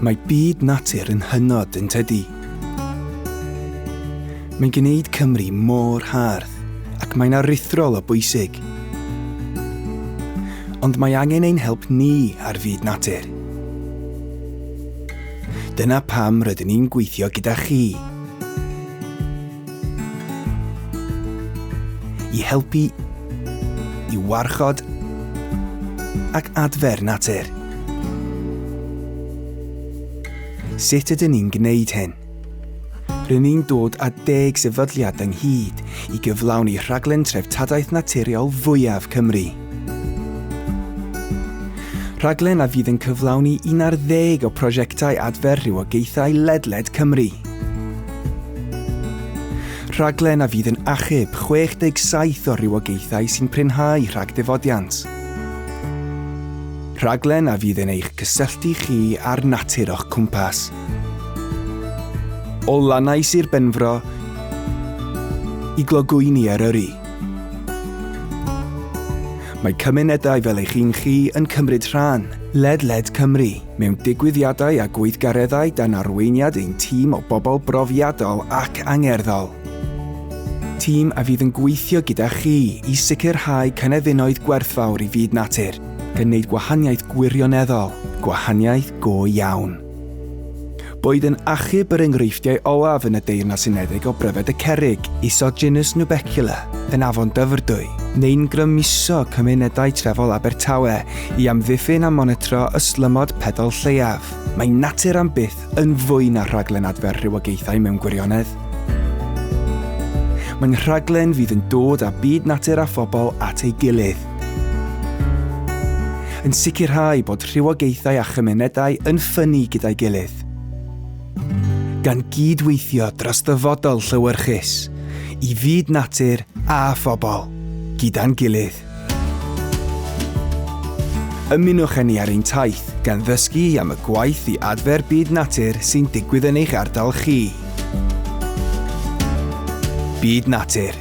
Mae byd natur yn hynod yn tydi. Mae'n gwneud Cymru mor hardd ac mae'n aruthrol o bwysig. Ond mae angen ein help ni ar fyd natur. Dyna pam rydyn ni'n gweithio gyda chi. i helpu i warchod ac adfer natur. Sut ydyn ni'n gwneud hyn? Rydyn ni'n dod â deg sefydliad ynghyd i gyflawni rhaglen treftadaeth naturiol fwyaf Cymru. Rhaglen a fydd yn cyflawni un ar ddeg o prosiectau adfer rhywogaethau ledled Cymru. Rhaglen a fydd yn achub 67 o rywogaethau sy'n prynhau rhag difodiant. Rhaglen a fydd yn eich cysylltu chi â'r natur o'ch cwmpas. O lannau Sir Benfro i glogwyni Eryri. Mae cymunedau fel eich un chi yn cymryd rhan ledled Cymru. Mewn digwyddiadau a gweithgareddau dan arweiniad ein tîm o bobl brofiadol ac angerddol. Tîm a fydd yn gweithio gyda chi i sicrhau cynefinoedd gwerthfawr i fyd natur, gan wneud gwahaniaeth gwirioneddol, gwahaniaeth go iawn. Boed yn achub yr enghreifftiau olaf yn y Deyrnas Unedig o bryfed y cerrig, isod genus Nubecula, yn Afon Dyfrdwy, neu'n grymuso cymunedau trefol Abertawe i amddiffyn a monitro ystlymod pedol lleiaf, mae natur am byth yn fwy na rhaglen adfer rhywogaethau mewn gwirionedd. Mae'n rhaglen fydd yn dod â byd natur a phobl at ei gilydd, yn sicrhau bod rhywogaethau a chymunedau yn ffynnu gyda'i gilydd, gan gyd-weithio dros ddyfodol llewyrchus i fyd natur a phobl, gyda'n gilydd. Ymunwch â ni ar ein taith gan ddysgu am y gwaith i adfer byd natur sy'n digwydd yn eich ardal chi. Byd Natur.